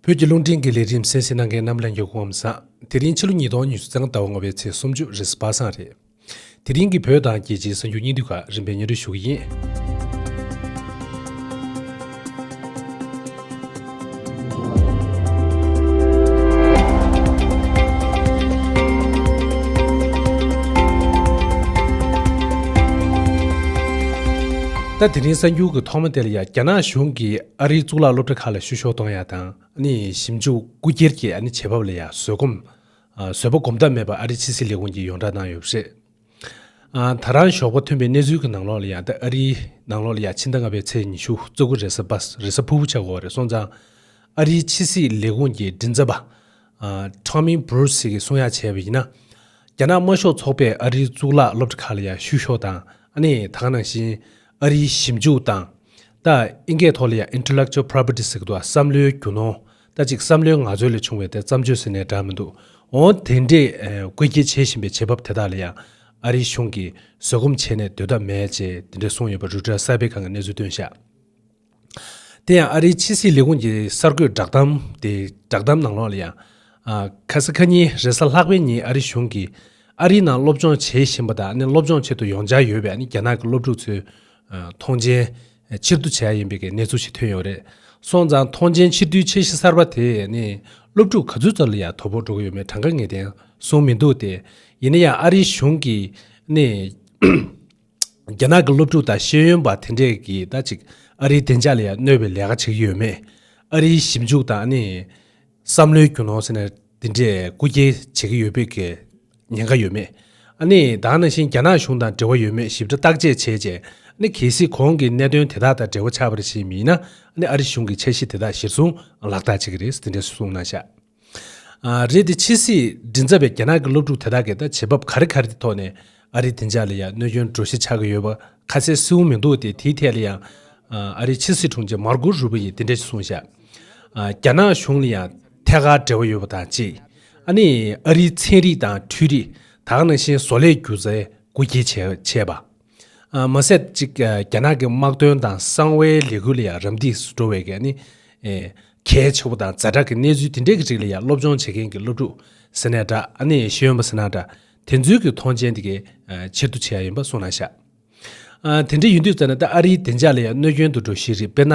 བོད་ཀྱི་རླུང་འཕྲིན་གྱི་ལས་རིམ་གསལ་བཤད་གནང་མཁན་རྣམས་ལ་མགྱོགས་གུང་བསངས། དེ་རིང་ཕྱི་ལོ་ཉིས་སྟོང་ཉི་ཤུ་ཚང་ཟླ་བ་ལྔ་བའི་ཚེས་སུམ་ཅུ་རེས་སྦ་གསང་རེད། དེ་རིང་གི་བོད་དང་རྒྱལ་སྤྱིའི་གསར་འགྱུར་སྙིང་བསྡུས་ཁག་རིམ་པས་སྙན་སྒྲོན་ཞུ་གི་ཡིན། ད་དེ་རིང་གསར་འགྱུར་གྱི་ཐོག་མ་དེ་ལ་ཡང་རྒྱ་ནག་གཞུང་གིས། ཨ་རིའི་གཙུག་ལག་སློབ་གྲྭ་ཁག་ལ་བཤུ་གཞོག་གཏོང་ཡ་དང། ཞིབ་འཇུག་རྐུ་སྒྱེར་གྱི་བྱེད་བབ་ལ་ཡང་བཟོད་སྒོམ། བཟོད་པ་གོམ་སྟབས་མེད་པར་ཨ་རིའི་ཕྱི་སྲིད་ལས་ཁུངས་ཀྱིས་ཡོངས་བསྒྲགས་གནང་ཡོད་པ་རེད། ད་རང་ཞོགས་པ་ཐོན་པའི་གནས་ཚུལ་གྱི་ནང་ལོགས་ལ་ཡང་ད་ཨ་རིའི་ནང་ལོགས་ལ་ཡང་ཕྱི་ཟླ་ལྔ་པའི་ཚེས་ཉི་ཤུ་བཙོ་དགུ་རེས་གཟའ་ཕུར་བུ་ཆགས་འགོ་བ་རེད་སོང་ཙང། ཨ་རིའི་ཕྱི་སྲིད་ལས་ཁུངས་ཀྱི་མགྲིན་ཚབ་པ། Tommy Bruce། གིས་གསུང་ཡག་བྱས་པ་ཡིན་ན། རྒྱ་ནག་དམར་ཤོག་ཚོགས་པས་ཨ་རིའི་གཙུག་ལག་སློབ་གྲྭ་ཁག་ལ་ཡང་བཤུ་གཞོག་དང། ད་ག་ནང་བཞིན་ཨ་རིའི་ཞིབ་འཇུག་དང། ལྟ། ཨིན་སྐད་ཐོག་ལ་ཡང Intellectual Property ཟེར་གི་འདུག་ཨ་བསམ་བློའི་རྒྱུ་ནོར། ལྟ་ཅིག་བསམ་བློའི་ངག་རྩོལ་ལས་བྱུང་བའི་དེར་བརྩམས་ཆོས་ཟེར་ནས་གྲགས་མི་འདུག་འོང། དེ་འདྲས་བཀོད་སྐྱིལ་བྱེད་བཞིན་པའི་བྱེད་བབ་དེ་དག་ལ་ཡང། ཨ་རིའི་གཞུང་གིས་བཟོད་སྒོམ་བྱས་ནས་སྡོད་ཐབས་མེད་ཅེས་དེ་འདྲས་གསུངས་ཡོད་པ་རུ་ཏྲ་གསར་པས་གང་གི་གནས་ཚུལ་སྟོན་བཞག། དེ་ཡང་ཨ་རིའི་ཕྱི་སྲིད་ལས་ཁུངས་ཀྱི་གསར་འགོད་བསྒྲགས་གཏམ་དེའི་བསྒྲགས་གཏམ་ནང་ལོགས་ལ་ཡང། ཁ་སི་ཁ་ཉིན་རེས་གཟའ་ལྷག་པའི་ཉིན་ཨ་རི་གཞུང་གིས་ཨ་རིའི་ནང་སློབ་སྦྱོང་བྱེད་བཞིན་པ་དང་སློབ་སྦྱོང་བྱེད་དུ་ཡོང་འཆར་ཡོད་པའི་རྒྱ་ནག་གི་སློབ་ཕྲུག་ཚོའི་ཐོངས་མཆན་ཕྱིར་བསྡུ་བྱས་ཡིན་པའི་གནས་ཚུལ་ཞིག་ཐོན་ཡོད་རེད། སོང་ཙང་ཐོངས་མཆན་ཕྱིར་བསྡུའི་ཆད་གཞི་གསར་པ་དེས་སློབ་ཕྲུག་ག་ཚོད་ཙམ་ལ་ཡང་དོ་ཕོག་འགྲོ་གི་ཡོད་མེད་གྲངས་ཀ་ངེས་གཏན་བཟུང་མི་འདུག་སྟེ། ཡིན་ན་ཡང་ཨ་རིའི་གཞུང་གིས། རྒྱ་ནག་གི་སློབ་ཕྲུག་དང་ཤེས་ཡོན་པ་དེ་འདྲས་ཀྱིས་ད་ཅིག་ཨ་རིའི་བདེ་འཇགས་ལ་ཡང་གནོད་པའི་ལས་ཀ་བྱེད་ཀྱི་ཡོད་མེད། ཨ་རིའི་ཞིབ་འཇུག་དང་ནི། བསམ་བློའི་རྒྱུ་ནོར་ཟེར་ནས་དེ་འདྲས་རྐུ་སྐྱེལ་བྱེད་ཀྱི་ཡོད་པའི་ཉེན་ཁ་ཡོད་མེད། ཨ་ནི་དང་ནང་བཞིན་རྒྱ་ནག་གཞུང་དང་འབྲེལ་བ་ཡོད་མེད་ཞིབ་ཕྲ་བརྟག་དཔྱད་བྱས་རྗེས་ཨ་ནི་གལ་སྲིད་གོང་གི་གནད་དོན་དེ་དག་དང་འབྲེལ་བ་ཆགས་པར་བྱེད་མིན་ན་ཨ་ནི་ཨ་རི་གཞུང་གིས་འཆར་གཞི་དེ་དག་གཞིར་བཟུང་ལག་བསྟར་བྱེད་ཀྱི་རེད་ཟེར་དེ་འདྲས་གསུངས་གནང་བཞག། རེད་དེ་ཕྱི་སྲིད་མགྲིན་ཚབ་པའི་རྒྱ་ནག་གི་སློབ་ཕྲུག་དེ་དག་གིས་ད་བྱེད་བབ་ག་རེ་ག་རེ་གི་ཐོག་ནས་ཨ་རིའི་བདེ་འཇགས་ལ་ཡང་གནོད་སྐྱོན་འགྲོ་གཞི་ཆགས་ཀྱི་ཡོད་པ་ཁ་གསལ་སེའུ་མི་འདུག་སྟེ་དེའི་ཐད་ལ་ཡང་ཨ་རིའི་ཕྱི་སྲིད་དྲུང་ཆེ་མར་ཀོ་རུ་པོ་ཡིས་དེ་འདྲ་ཞིག་གསུངས་བཞག་རྒྱ་ནག་གཞུང་ལ་ཡང་ཐད་ཀར་འབྲེལ་བ་ཡོད་པ་དང་གཅིག་ཨ་ནི་ཨ་རིའི་ཚན་རིག་དང་འཕྲུལ་རིག་དག་ནང་བཞིན་བཟོ་ལས་སྒྱུ་རྩལ་སྒོ་འབྱེད་བྱས་པ། མ་ཟད་ཅིག་རྒྱ་ནག་གི་དམག་དོན་དང་གསང་བའི་ལས་འགུལ་ལ་ཡང་རམ་འདེགས་སུ་འགྲོ་བའི་ནི་གལ་ཆེ་བོ་དང་རྫ་དྲག་གི་གནས་ཚུལ་དེ་འདྲས་ཀྱི་རིགས་ལ་ཡང་སློབ་སྦྱོང་བྱེད་མཁན་གྱི་སློབ་ཕྲུག་ཟེར་ན་འདྲ་ནི་ཤེས་ཡོན་པ་ཟེར་ན་འདྲ་དེ་ཚོའི་གྱི་མཐོང་ཆེན་དེ་གའི་ཕྱིར་དུ་བྱས་ཡ་ཡིན་པ་གསུང་ན་ཤག་དེ་འདྲས་ཡིན་དུས་ཙ་ན་ད་ཨ་རིའི་བདེ་འཇགས་ལ་ཡང་གནོད་སྐྱོན་དུ་འགྲོ་ཤེས་རིགས་དཔེར་ན་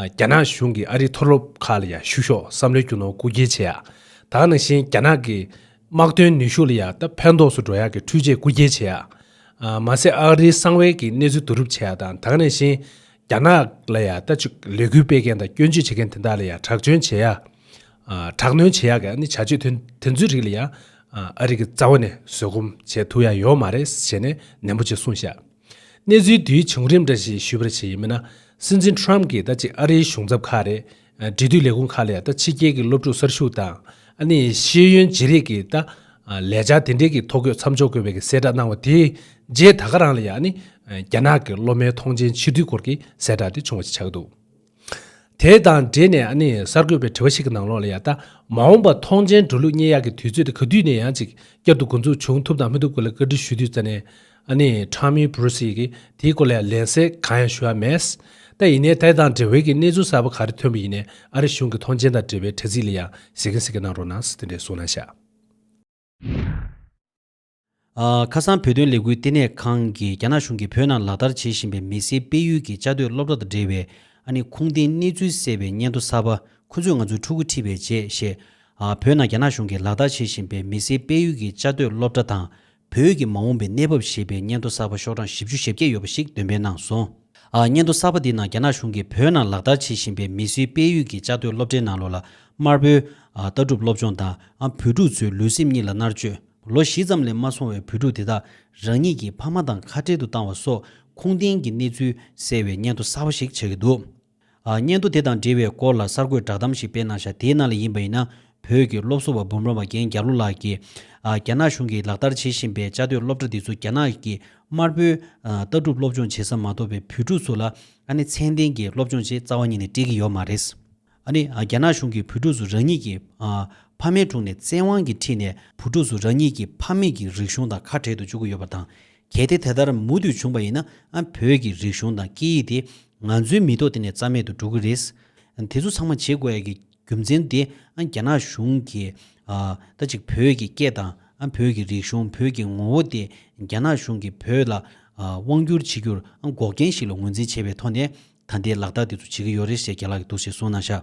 རྒྱ་ནག་གཞུང་གི་ཨ་རིའི་མཐོ་སློབ་ཁག་ལ་ཡང་ཞུགས་ཤོག་བསམ་བློའི་རྒྱུ་ནོར་བཀུག་སྐྱེལ་བྱེད་ཡ་དང་ནང་བཞིན་རྒྱ་ནག་གི་དམག་དོན་ནུས་ཤུགས་ལ་ཡང་ད་ཕན་ཐོགས་སུ་འགྲོ་ཡ་གི་འཕྲུལ་ཆས་བཀུག་སྐྱེལ་བྱེད་ཡ། མ་ཟད་ཨ་རིའི་གསང་བའི་གི་གནས་ཚུལ་བསྡུ་རུབ་བྱས་དང་དག་ནས་བཞིན་རྒྱ་ནག་ལ་ཡང་ལྟ་ཅི་ལས་འགུལ་སྤེལ་མཁན་དང་སྐྱོན་བརྗོད་བྱེད་མཁན་དེ་དག་ལ་ཡང་དྲག་སྐྱོན་བྱེད་ཡ། དྲག་གནོན་བྱེད་ཡ་གི་ནི་བྱ་སྤྱོད་དེ་ཚོའི་རིགས་ལ་ཡང་ཨ་རི་གི་རྩ་བ་ནས་བཟོད་སྒོམ་བྱེད་ཐུབ་ཡ་ཡོད་མ་རེད་ཞེས་ནས་ནན་པོ་ཅིག་གསུངས་ཤག། གནས་ཚུལ་དེའི་བྱུང་རིམ་འདྲ་ཞིག་ཞུས་པར་བྱས་ཡིན་མིན་ན་སྲིད་འཛིན Trump གིས་ལྟ་ཅི་ཨ་རིའི་གཞུང་ཚབ་ཁག་རེད། འབྲེལ་མཐུད་ལས་ཁུངས་ཁག་ལས་ད་ཕྱི་རྒྱལ་གྱི་སློབ་ཕྲུག་གསར་ཞུགས་དང། ཤེས་ཡོན་བརྗེ་རེས་ཀྱི་ད་ལས་འཆར་དེ་འབྲེལ་གྱི་ཐོ་འགོད་མཚམས་འཇོག་དགོས་པའི་གྱི་གསལ་བསྒྲགས་གནང་བ་དེའི་རྗེས་ད་ག་རང་ལ་ཡང་རྒྱ་ནག་གི་སློབ་མའི་ཐོངས་མཆན་ཕྱིར་བསྡུའི་སྐོར་གྱི་གསལ་བསྒྲགས་དེ་བྱུང་བ་ཞིག་ཆགས་འདུག་དེ་དང་འབྲེལ་ནས་གསར་འགོད་པའི་དྲི་བ་ཞིག་གི་ནང་ལོགས་ལ་ཡང་ད་མ་འོངས་པར་ཐོངས་མཆན་འགྲོ་ལུགས་སྙན་གཡག་གི་དུས་ཚོད་དེ་ག་དུས་ནས་ཡང་ཅིག་བསྐྱར་དུ་འགོ་འཛུགས་བྱུང་ཐུབ་དང་མི་ཐུབ་སྐོར་ལ་བཀའ་འདྲི་ཞུ་དུས་རྩ་ནས་ཨ་ནི་ཁྲང་མིའི་བུ་རུ་སི་ཡིས་དེའི་སྐོར་ལ་ལན་གསལ་གང་ཡང་ཞུ་བ་མེད། ད་ཡིན་ནའི་དེ་དང་འབྲེལ་བའི་གི་གནས་ཚུལ་གསར་པ་ག་རེ་ཐོན་པ་ཡིན་ནའི་ཨ་རི་གཞུང་གི་ཐོངས་མཆན་དང་འབྲེལ་བའི་དྲ་ཚིགས་ལ་ཡང་གཟིགས་གིན་གཟིགས་གིན་གནང་རོགས་གནང་ཟིག་དེ་འདྲའི་གསུངས་ན་ཤག། ཁ་སང་བོད་དོན་ལས་འགུལ་ལྟེ་གནས་ཁང་གིས་རྒྱ་ནག་གཞུང་གིས་བོད་ནང་ལག་བསྟར་བྱེད་བཞིན་པའི་མི་སེར་སྤེལ་ཡུལ་གྱི་བཅའ་སྡོད་སློབ་གྲྭ་དང་འབྲེལ་བའི་ཨ་ནི་ཁུངས་ལྡན་གནས་ཚུལ་གསལ་བའི་སྙན་ཐོ་གསར་པ་ཁོ་ཚོས་ང་ཚོའི་ཕྲུ་གུ་ཁྲིད་པའི་རྗེས་བཞེས། བོད་ནང་རྒྱ་ནག་གཞུང་གིས་ལག་བསྟར་བྱེད་བཞིན་པའི་མི་སེར་སྤེལ་ཡུལ་གྱི་བཅའ་སྡོད་སློབ་གྲྭ་དང་བོད་ཀྱི་མ་འོངས་པའི་གནས་བབ་ཞེས་པའི་སྙན་ཐོ་གསར་པ་ཤོག་གྲངས་བཞི་བཅུ་ཞེ་བརྒྱད་ཡོད་པ་ཞིག་འདོན་སྤེལ་གནང་སོང། སྙན་ཐོ་གསར་པ་འདིའི་ནང་རྒྱ་ནག་གཞུང་གིས་བོད་ནང་ལག་བསྟར་བྱེད་བཞིན་པའི་མི་སུའི་དཔལ་ཡུལ་གྱི་བཅའ་སྡོད་སློབ་གྲྭའི་ནང་ལོ་ལ་དམར་པོའི། ལྟ་གྲུབ་སློབ་སྦྱོང་དང། བོད་ཕྲུག་ཚོའི་ལུས་སེམས་གཉིས་ལ་མནར་གཅོད། ལོ་བཞི་ཙམ་ལས་མ་སོང་བའི་བོད་ཕྲུག་དེ་དག་རང་ཉིད་ཀྱི་ཕ་མ་དང་ཁ་བྲལ་དུ་བཏང་བ་སོགས་ཁུངས་ལྡན་གྱི་གནས་ཚུལ་གསལ་བའི་སྙན་ཐོ་གསར་པ་ཞིག་ཆགས་ཀྱི་འདུག་སྙན་ཐོ་དེ་དང་འབྲེལ་བའི་སྐོར་ལ་གསར་འགོད་བསྒྲགས་གཏམ་ཞིག་སྤེལ་གནང་བཞག་དེའི་ནང་ལ་ཡིན་པ་ཡིན་ན་བོད་ཀྱི་སློབ་གསོ་བ་འབུམ་རམས་པ་རྒན་རྒྱ་ལོ་ལགས་ཀྱིས། རྒྱ་ནག་གཞུང་གིས་ལག་བསྟར་བྱེད་བཞིན་པའི་བཅའ་སྡོད་སློབ་གྲྭ་འདི་ཚོ་རྒྱ་ནག་གི་དམར་པོའི་ལྟ་གྲུབ་སློབ་སྦྱོང་བྱེད་ས་མ་གཏོགས་པའི་བོད་ཕྲུག་ཚོ་ལ་ཨ་ནི་ཚན་ལྡན་གྱི་སློབ་སྦྱོང་ཆེད་རྩ་བ་ཉིད་ནས་སྤྲད་ཀྱི་ཡོད་མ་རེད། ཨ་ནི་རྒྱ་ནག་གཞུང་གིས་བོད་ཕྲུག་ཚོ་རང་ཉིད་ཀྱི་ཕ་མའི་དྲུང་ནས་བཙན་དབང་གིས་ཁྲིད་ནས་བུ་ཕྲུག་ཚོ་རང་ཉིད་ཀྱི་ཕ་མེས་ཀྱི་རིག་གཞུང་དང་ཁ་བྲལ་དུ་བཅུག་གི་ཡོད་པ་དང་གལ་ཏེ་དེ་ལྟར་མུ་མཐུད་བྱུང་བ་ཡིན་ན་བོད་ཀྱི་རིག་གཞུང་དང་སྐད་ཡིག་དེ་ང་ཚོའི་མི་ཐོག་འདི་ནས་རྩ་མེད་དུ་འགྲོ་གི་རེད། དེ་ཚོ་ཚང་མ་བྱེད་དགོས་ཡ་གི་རྒྱུ་མཚན་དེ་རྒྱ་ནག་གཞུང་གིས་ད་ཅིག་བོད་ཀྱི་སྐད་དང་བོད་ཀྱི་རིག་གཞུང་བོད་ཀྱི་ངོ་བོ་དེ་རྒྱ་ནག་གཞུང་གིས་བོད་ལ་དབང་བསྒྱུར་བྱེད་རྒྱུར་འགོག་རྐྱེན་ཞིག་ལ་ངོས་འཛིན་བྱས་པའི་ཐོག་ནས་ད་ལྟའི་ལག་རྟགས་དེ་ཚོ་བྱེད་ཀྱི་ཡོད་རེད་ཞེས་རྒྱ་ལག་གིས་འདུག་ཞེས་གསུངས་གནང་ཤག།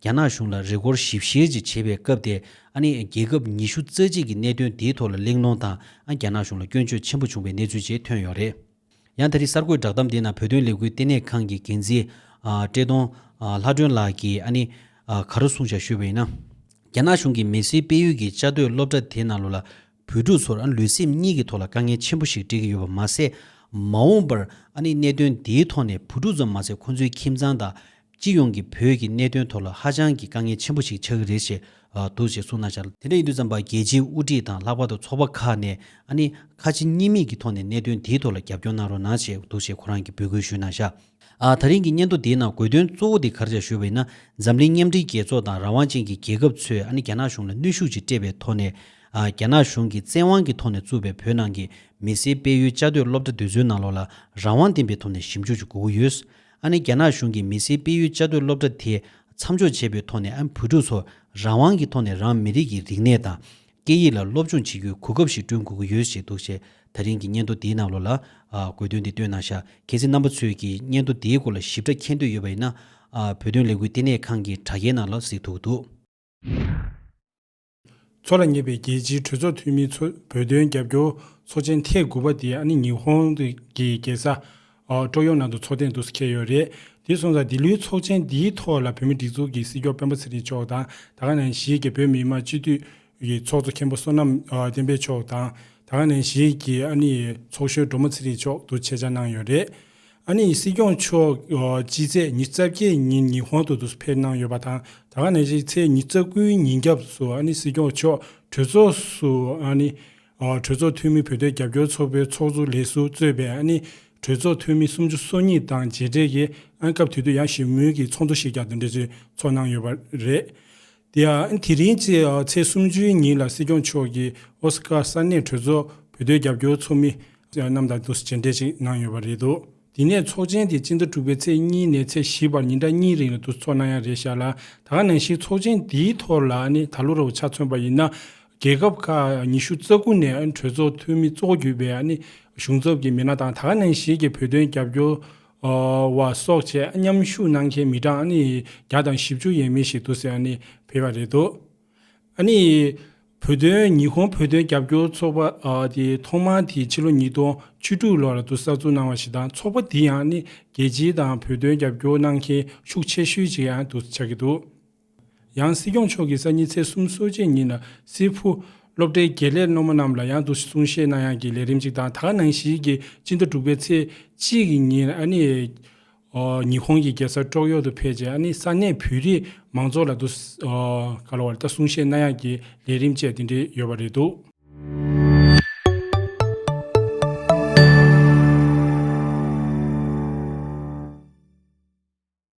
རྒྱ་ནག་གཞུང་ལ་རེས་སྐོར་ཞིབ་བཤེར་ཅིག་བྱེད་པའི་སྐབས་དེ་ཨ་ནི་རྒྱལ་ཁབ་ཉི་ཤུ་རྩ་གཅིག་གི་གནད་དོན་དེའི་ཐོག་ལ་གླེང་སློང་དང་ཨ་རྒྱ་ནག་གཞུང་ལ་སྐྱོན་བརྗོད་ཆེན་པོ་བྱུང་བའི་གནས་ཚུལ་བཅས་ཐོན་ཡོད་རེད། ཡང་ད་རིང་གསར་འགོད་བསྒྲགས་གཏམ་དེའི་ནང་བོད་དོན་ལས་འགུལ་ལྟེ་གནས་ཁང་གི་འགན་འཛིན། བཀྲས་མཐོང། ལྷ་སྒྲོན་ལགས་ཀྱིས་ཨ་ནི། ག་རུ་གསུང་བྱ་ཤོད་པ་ཡིན་ན། རྒྱ་ནག་གཞུང་གིས་མེ་སིའི་དཔལ་ཡུལ་གྱི་བཅའ་སྡོད་སློབ་གྲྭ་དེ་ནང་ལོ་ལ་བོད་ཕྲུག་ཚོར་ལུས་སེམས་གཉིས་ཀྱི་ཐོག་ལ་དཀའ་ངལ་ཆེན་པོ་ཞིག་འཕྲད་ཀྱི་ཡོད་པ་མ་ཟད། མ་འོངས་པར་གནད་དོན་དེའི་ཐོག་ནས་བུ་ཕྲུག་ཙམ་མ་ཟད་ཁོང་ཚོའི་ཁྱིམ་ཚང་དང། སྤྱི་ཡོངས་ཀྱི་བོད་ཀྱི་གནད་དོན་ཐོག་ལ་ཧ་ཅང་གི་དཀའ་ངལ་ཆེན་པོ་ཞིག་ཆགས་ཀྱི་རེད་ཞེས་འདུག་ཅེས་གསུངས་གནང་འཆར། དེ་འདྲ་ཡིན་དུས་ཙམ་པར་རྒྱལ་སྤྱིའི་དབུ་ཁྲིད་དང་ལྷག་པར་དུ་ཚོགས་པ་ཁག་ནས་ཁ་ཆེ་གཉིས་མེད་ཀྱི་ཐོག་ནས་གནད་དོན་དེའི་ཐོག་ལ་རྒྱབ་སྐྱོར་གནང་རོགས་གནང་བྱས་འདུག་ཅེས་ཁོ་རང་གིས་འབོད་སྐུལ་ཞུས་གནང་འཆར། ད་རིང་གི་སྙན་ཐོ་འདིའི་ནང་དགོས་དོན་གཙོ་བོ་དེ་གར་བྱ་ཞུ་བ་ཡིན་ན་འཛམ་གླིང་མཉམ་འབྲེལ་རྒྱལ་ཚོགས་དང་རང་དབང་ཅན་གྱི་རྒྱལ་ཁབ་ཚོས་ཨ་ནི་རྒྱ་ནག་གཞུང་ལ་གནོད་ཤུགས་ཅིག་སྤྲད་པའི་ཐོག་ནས། རྒྱ་ནག་གཞུང་གིས་བཙན་དབང་གི་ཐོག་ནས་བཙུགས་པའི་བོད་ནང་གི་མི་སེར་སྤེལ་ཡུལ་བཅའ་སྡོད་སློབ་གྲྭ་འདི་ཚོའི་ནང་ལོགས་ལ་རང་དབང་ལྡན་པའི་ཐོག་ནས་ཞིབ་འཇུག་ཅིག་དགོས་ཀྱི་ཡོད། ཨ་ནི་རྒྱ་ནག་གཞུང་གིས་མི་སེར་སྤེལ་ཡུལ་བཅའ་སྡོད་སློབ་གྲྭ་དེ་མཚམས་འཇོག་བྱས་པའི་ཐོག་ནས་ཨ་ནི་བོད་ཕྲུག་ཚོར་རང་དབང་གི་ཐོག་ནས་རང་མི་རིགས་ཀྱི་རིག་གནས་དང་སྐད་ཡིག་ལ་སློབ་སྦྱོང་བྱེད་རྒྱུའི་གོ་སྐབས་ཤིག་བསྐྲུན་དགོས་ཀྱི་ཡོད་ཅེས་འདུག་ཅེས་ད་རིང་གི་སྙན་ཐོ་འདིའི་ནང་ལོ་ལ། དགོས་དོན་འདི་བཏོན་གནང་ཤག་གལ་སྲིད་རྣམ་པ་ཚོས་ཀྱིས་སྙན་ཐོ་འདིའི་སྐོར་ལ་ཞིབ་ཕྲ་མཁྱེན་འདོད་ཡོད་པ་ཡིན་ན། བོད་དོན་ལས་འགུལ་ལྟེ་གནས་ཁང་གི་དྲྭ་རྒྱའི་ནང་ལ་གཟིགས་ཐུག་འདུག། མཚོ་ལ་ཉེ་བའི་རྒྱལ་སྤྱིའི་གྲོས་ཚོགས་འཐུས་མིའི་ཚོས་བོད་དོན་རྒྱབ་སྐྱོར་ཚོགས་ཆེན་ཐེངས་དགུ་པ་འདི་ཨ་ནི་ཉི་ཧོང་གི་རྒྱལ་ས་ཀྲོ་ཡོང་ནང་དུ་ཚོགས་ཐེངས་དུ་སུ་ཁེལ་ཡོད་རེད་དེ་སོང་ཙང་འདི་ལོའི་ཚོགས་ཆེན་འདིའི་ཐོག་ལ་བོད་མི་སྒྲིག་འཛུགས་ཀྱི་སྲིད་སྐྱོང་དཔོན་པོ་ཚེ་རིང་མཆོག་དང་ད་ག་ནང་གཞིས་ཀྱི་བོད་མི་དམངས་སྤྱི་འཐུས་ཀྱི་ཚོགས་གཙོ་མཁན་པོ་བསོད་ནམས་བསྟན་འཕེལ་མཆོག་དང་ད་ག་ནང་གཞིས་ཀྱི་ཨ་ནི་ཡི་ཚོགས་གཞོན་འབྲོག་མོ་ཚེ་རིང་མཆོག་དུ་ཆེད་བཅར་གནང་ཡོད་རེད། ཨ་ནི་ཡི་སྲིད་སྐྱོང་མཆོག་སྤྱི་ཚེས་ཉི་རྩ་བརྒྱད་ཉིན་ཉི་ཧོང་དུ་དུ་སུ་ཕེབས་གནང་ཡོད་པ་དང་ད་ག་ནང་གཞིས་ཚེས་ཉི་རྩ་དགུའི་ཉིན་སྐྱབས་སུ་ཨ་ནི་སྲིད་སྐྱོང་མཆོག་གྲོས་ཚོགས་སུ་ཨ་ནི་གྲོས་ཚོགས་འཐུས་མི་བོད་དོན་རྒྱབ་སྐྱོར་ཚོགས་པའི་ཚོགས་གཙོ་ལས་སུ་གཙོས་པའི་ཨ་ནི་གྲོས་ཚོགས་འཐུས་མི་སུམ་ཅུ་སོ་གཉིས་དང་མཇལ་འཕྲད་ཀྱིས་ཨ་སྐབས་དུས་དོན་ཡང་ཞིབ་མོལ་གྱི་ཚོགས་འདུ་ཞིག་ཀྱང་འབྲེལ་ཚོད་ཚོགས་གནང་ཡོད་པ་རེད། དེ་རིང་ཚེས་ཚེས་སུམ་ཅུའི་ཉིན་ལ་སྲིད་སྐྱོང་མཆོག་གིས་ཨོ་སི་ཀཱ་ས་གནས་གྲོས་ཚོགས་བོད་དོན་རྒྱབ་སྐྱོར་ཚོགས་མི་རྣམས་དང་མཇལ་འཕྲད་ཅིག་གནང་ཡོད་པ་རེད་འདུག་དེ་ནས་ཚོགས་ཆེན་དེ་སྤྱི་ཟླ་དྲུག་པའི་ཚེས་གཉིས་ནས་ཚེས་བཞི་བར་ཉིན་གྲངས་གཉིས་རིང་ལ་འདུ་ཚོགས་གནང་ཡ་རེད་ཤག་ལ་ད་ག་ནང་བཞིན་ཚོགས་ཆེན་དེའི་ཐོག་ལ་ནི་ད་ལོ་རུ་ཆ་མཚོན་པ་ཡིན་ན་རྒྱལ་ཁབ་ཁག་ཉི་ཤུ་རྩ་དགུ་ནས་གྲོས་ཚོགས་འཐུས་མི་གཙོ་གྱུར་པའི་གཞུང་ཚབ་ཀྱི་མི་སྣ་དང་ད་ནངས་ཤིག་གི་བོད་དོན་རྒྱབ་སྐྱོར་བ་སོགས་ཆེད་མཉམ་ཞུགས་གནང་མཁན་མི་གྲངས་བརྒྱ་དང་བཞི་བཅུ་ཡས་མས་ཤིག་འདུ་ཟེར་ཕེབས་པ་རེད་འདུག་བོད་དོན་ཉི་ཧོང་བོད་དོན་རྒྱབ་སྐྱོར་ཚོགས་པ་དེ་ཐོག་མར་དེ་ཕྱི་ལོ་ཉིས་སྟོང་བཅུ་དྲུག་ལོར་དུ་གསར་འཛུགས་གནང་བ་ཞིག་དང་ཚོགས་པ་འདི་ཡང་རྒྱལ་སྤྱི་དང་བོད་དོན་རྒྱབ་སྐྱོར་གནང་མཁན་ཤུགས་ཆེ་ཤོས་ཅིག་ཡང་དུ་ཆགས་ཀྱི་འདུག། ཡང་སྲིད་སྐྱོང་མཆོག་གིས་གསར་ཉིན་ཚེས་གསུམ་གསོལ་བྱེད་ཉིན་ལ་སིལ་བུ། སློབ་གྲྭའི་དགེ་ལས་སློབ་མ་རྣམས་ལ་ཡང་དུ་གསུང་བཤད་གནང་ཡང་གྱི་ལས་རིམ་གཅིག་དང་ད་ག་ནང་བཞིན་གྱི་སྤྱི་ཟླ་དྲུག་པའི་ཚེས་གཅིག་གི་ཉིན་ཨ་ནི། ཉི་ཧོང་གི་རྒྱལ་ས་ཀྲོག་གཡོག་ཏུ་ཕེབས་རྗེས་ཨ་ནི་ས་གནས་བོད་རིགས་མང་ཚོགས་ལ་དུ་གསུང་བཤད་གནང་ཡང་གྱི་ལས་རིམ་བཅས་དེ་འདྲའི་ཡོད་པ་རེད་འདུག།